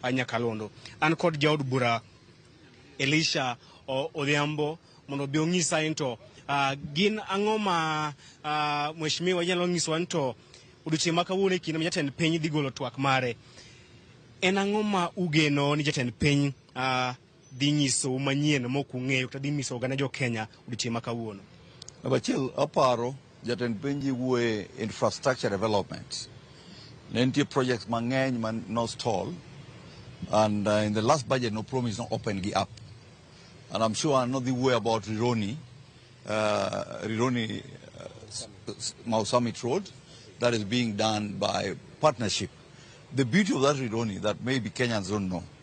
a Nyakalondo. An kod jaod bura Elisha Odhiambo mondo obi onyisa ni to uh, gin ang'o ma uh, mheshimiwa nyalo nyisowa ni to odiochieng' ma kawuono e kinde ma jatend piny dhi golo twak mare en ang'o ma ugeno ni jatend piny uh, dhi nyisou manyien mok ung'eyo kata dhi nyiso oganda jo-Kenya odiochieng' ma kawuono? Namba achiel, aparo jatend piny ji wuoye infrastructure development. Ne nitie projects mang'eny ma no stall and uh, in the last budget no promise no open gi up. And I'm sure no dhi wuoye about Rironi, uh, Rironi uh, Mau Summit Road that is being done by partnership. The beauty of that Rironi that maybe Kenyans don't know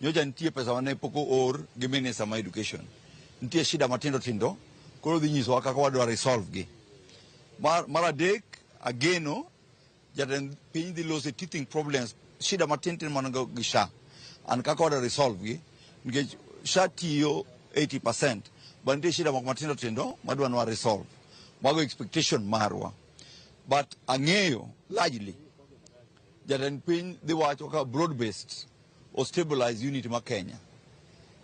Nyocha nitie pesa mane pok oor gi minister ma education. Nitie shida matindo tindo koro dhi nyisowa kaka wadwa resolve gi. Mar, mar adek ageno jatend piny dhi lose teething problems shida matintin man go gi SHA and kaka wadwa resolve gi nikech SHA tiyo 80% but nitie shida moko matindo tindo madwa nwa resolve. Mago expectation marwa. But ang'eyo largely Jatend piny dhi wacho ka broad based o stabilize unity ma Kenya.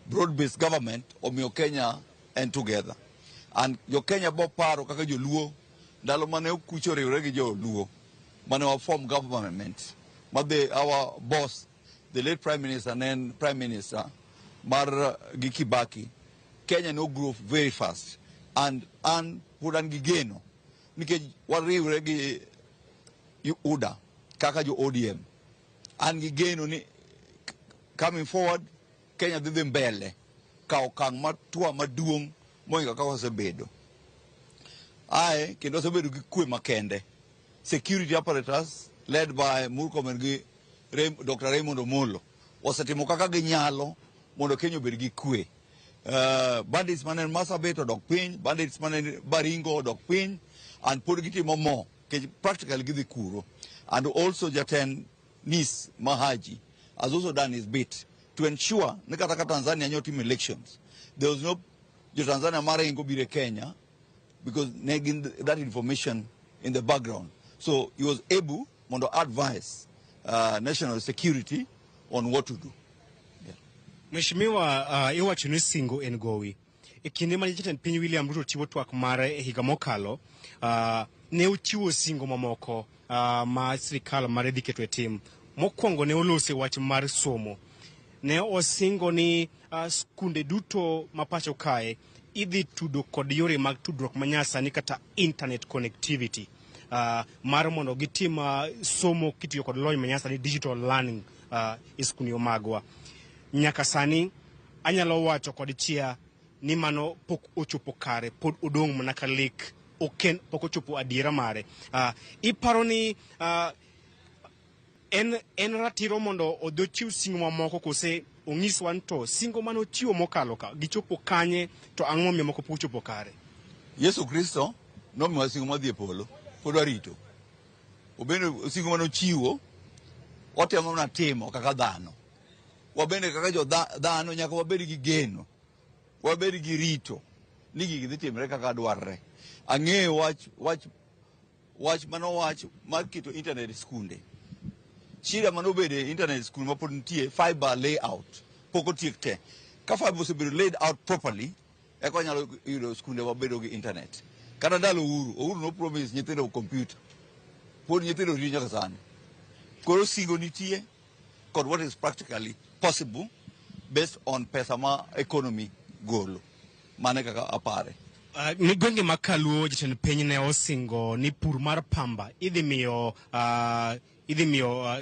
Broad based government omiyo Kenya en together. And jo Kenya bo paro kaka joluo ndalo mane okucho riwre gi joluo mane wa form government ma the our boss the late prime minister ne en prime minister mar uh, gi Kibaki Kenya no grew very fast and an pod an gi geno nikech wariwre gi UDA kaka jo ODM. An gi geno ni coming forward Kenya dhi dhi mbele ka okang' matwa maduong' moingo kaka osebedo. Ae kendo osebedo gi kwe makende. Security apparatus led by Murkomen gi Ray, Dr. Raymond Omolo osetimo kaka ginyalo mondo Kenya obed gi kwe. Uh, bandits mane Marsabit odok piny, bandits mane Baringo odok piny, and pod gitimo mo Kech practically gidhi kuro. And also jatend NIS Mahaji has also done his bit to ensure ni kata ka Tanzania nyo timo elections there was no jo Tanzania maringo bire Kenya because ne gin that information in the background so he was able mondo advise uh, national security on what to do. Mheshimiwa, uh, iwacho ni singo en gowi. E kinde mane jatend piny William Ruto chiwo twak mare e higa mokalo, ah, ne ochiwo singo mamoko ah, ma sirikal mare dhi keto e tim. Mokwongo ne olose wach mar somo. Ne osingo ni ah, skunde duto ma pacho kae idhi tudo kod yore mag tudruok manyasani kata internet connectivity ah, mar mondo gitim ah, somo kitiyo kod lony manyasani digital learning ah, e skunde magwa. Nyaka sani Anyalo wacho kod chia ni mano pok ochopo kare, pod odong' mana ka lek, oken pok ochopo adiera mare. Uh, iparo ni uh, en, en ratiro mondo odhi ochiw singo mamoko kose onyiswa ni to singo mane ochiwo mokalo ka gichopo kanye to ang'o momiyo moko pok ochopo kare? Yesu Kristo nomiwa singo madhi e polo, pod warito. Obende singo mane ochiwo watemo mana timo kaka dhano. Wabende kaka jo dhano nyaka wabed gi geno, wabed gi rito ni gigi dhi timre kaka dwarre. Ang'eyo wach wach wach mano wach mar keto internet skunde. Shida mano bede internet skul ma pod nitie fiber layout pok otiek te. Ka fiber osebedo laid out properly eka wanyalo yudo skunde wabedo gi internet. Kata ndalo Uhuru, Uhuru no promise nyithindo computer. Pod nyithindo ri nyaka sani. Koro singo nitie. kod what is practically possible based on pesa ma economy golo. Mane kaka apare. Uh, ni gwenge ma kaluo jatend piny ne osingo ni pur mar pamba idhi miyo uh, idhi miyo uh,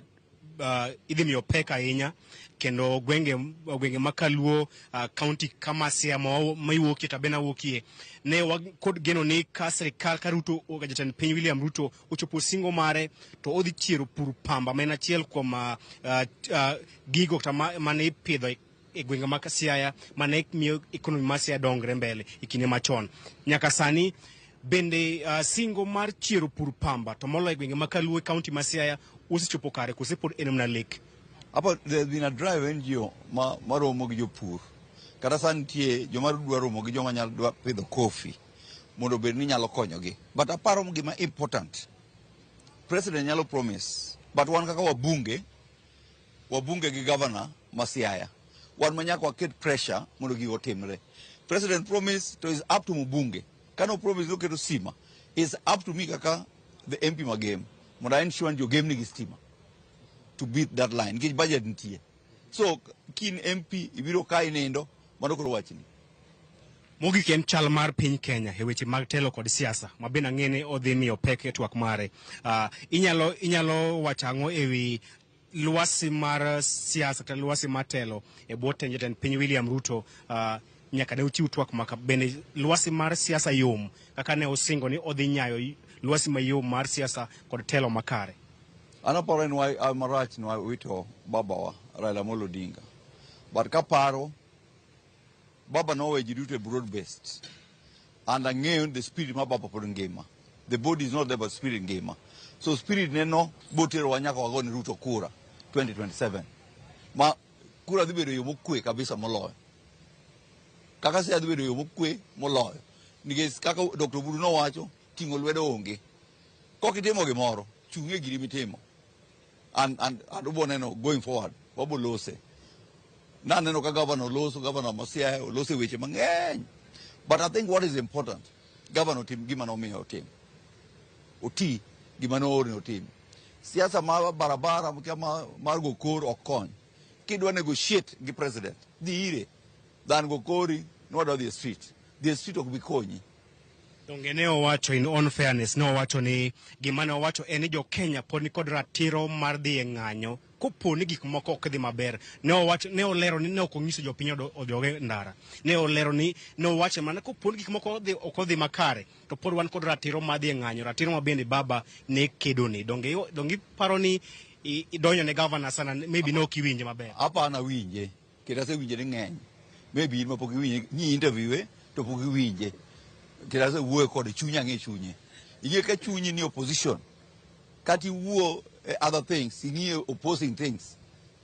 uh, idhi miyo pek ahinya kendo gwenge gwenge ma kaluo uh, county kama sia ma wa- ma iwuokie tabena wuokie ne wa- kod geno ni ka sirikal ka ruto jatend piny william ruto ochopo singo mare to odhi chiero pur pamba ma en achiel kuom uh, uh, gigo kata ma- mane ipidho e- e gwenge mag Siaya mane miyo ekonomi mar Siaya dongre mbele e kinde machon nyaka sani bende uh, singo mar chiero pur pamba to moloyo e gwenge ma Kaluo e kaunti ma Siaya osechopo kare kose pod en mana lek Apa there's been a drive NGO ma maromo gi jopur. Kata sani nitie joma dwa romo gi joma nyalo dwa pidho coffee. mondo obed ni nyalo konyogi but aparo gima important president nyalo promise but wan kaka wabunge wabunge gi governor ma Siaya wan ma nyaka waket pressure mondo gigo otimre president promise to is up to mbunge kano promise noketo stima is up to me kaka the MP magem mondo a ensure ni jogem nigi stima to beat that line nikech budget nitie So kin MP ibiro ka inindo mano koro wachni. Mogik en chal mar piny Kenya e weche mag telo kod siasa ma bende ang'e ni odhi miyo pek e twak mare. Uh, inyalo, inyalo wacho ang'o e wi lwasi mar siasa kata lwasi mar telo e bwo tend jatend piny William Ruto uh, nyaka ne uchiw twak maka bende lwasi mar siasa yom kaka ne usingo ni odhi nyayo lwasi mayom mar siasa kod telo makare. An aparo ni wa- marach ni wawito babawa Raila Amolo Odinga. But kaparo, baba nowe ji duto e broad based. And ang'eyo ni the spirit ma baba pod ngima. The body is not there but spirit ngima. So spirit neno boterowa nyaka wago ni Ruto kura 2027. Ma kura dhi bedo e yo mokwe kabisa moloyo. Kaka se adhi bedo e yo mokwe moloyo. Nikech kaka Dr. Buru nowacho, Ting'o lwedo onge. Kok itimo gimoro, chung' e giri mitimo. And, and, and ubo neno going forward, wabo lose. Naneno ka gavana oloso, gavana Masiaya oloso e weche mang'eny. But I think what is important, gavana otim gima nomiyo otim. Oti gima noore otim. Siasa mar barabara mkia ma- mar go kor ok kony. Kidwa negotiate gi president, dhi ire. Dhan go kori, nwadwa dhi e street. Dhi e street ok bi konyi. Donge ne owacho in on fairness ne owacho ni gima ne owacho en ni jo Kenya pod nikod ratiro mar dhi e ng'anyo kopo ni gik moko ok dhi maber. Ne owacho ne olero ni ne ok onyiso jopiny odo- odog e ndara. Ne olero ni ne owacho mana kopo ni gik moko odhi- ok odhi makare to pod wan kod ratiro mar dhi e ng'anyo, ratiro ma bende baba ne kedone. Donge iwa- donge iparo ni i- idonjo ne gavana sana maybe ne ok iwinje maber. Hapana winje. Kendo asewinje ni ng'eny. Maybe in ma pok iwinje, nyi interview e to pok iwinje. Kendo asewuoyo kode chunye ang'e chunye. Ing'e ka chunyi ni opposition, kati wuo eh, other things, ing'e opposing things,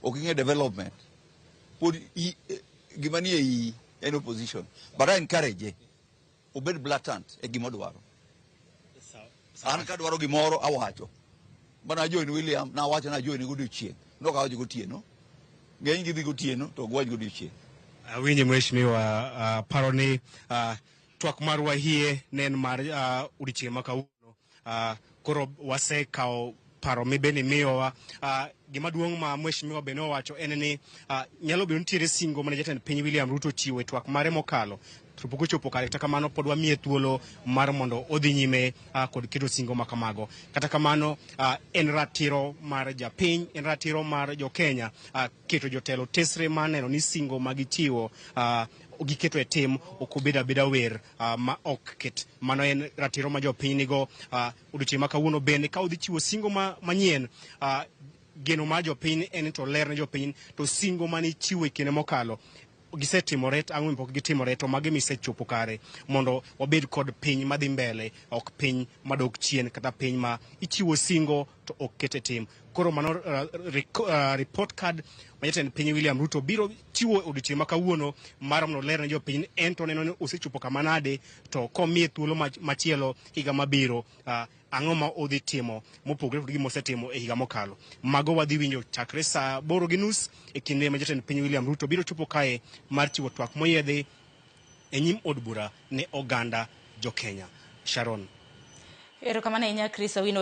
ok ing'e development. Pod i, eh, gima ni e iyi en opposition. But I encourage ye. Obed blatant e gima odwaro. An ka dwaro gimoro awacho. Bana join William na wacho na join godiochieng'. Nok awacho gotieno. Ng'eny gidhi gotieno to ok wach godiochieng'. Awinje mheshimiwa uh, paro ni uh, twak marwa hie ne en mar uh, odiochieng' ma kawuono Uh, koro wasekawo paro mibeni miyowa uh, gima duong' ma mheshimiwa bende owacho en ni uh, nyalo bedo nitiere singo mane jatend piny William Ruto chiwo e twak mare mokalo to pok ochopo kare kata kamano pod wamiye thuolo mar mondo odhi nyime uh, kod keto singo ma kamago kata kamano uh, en ratiro mar japiny en ratiro mar jokenya uh, keto jotelo tesre mar neno ni singo ma gichiwo uh, giketo e tim ok obed abeda wer uh, ma ok ket. Mano en ratiro ma jopiny nigo uh, odiochieng' ma kawuono bende ka udhi chiwo singo ma, manyien uh, geno mar jopiny en to ler ne jopiny to singo mane ichiwo e kinde mokalo gisetimore to ang'o pok gitimore to magi misechopo kare mondo wabed kod piny madhi mbele ok piny madok chien kata piny ma ichiwo singo to ok ket e tim Koro mano uh, report card ma jatend piny William Ruto biro chiwo odiochieng' ma kawuono mar mondo ler ne jopiny en to neno ni osechopo kama nade to komiye thuolo machielo higa mabiro uh, ang'o ma odhi timo mopogore kod gima osetimo e higa mokalo mago wadhi winjo chakre saa boro gi nus e kinde ma jatend piny William Ruto biro chopo kae mar chiwo twak moyedhi e nyim od bura ne oganda jo Kenya Sharon erokamano ahinya Chris Awino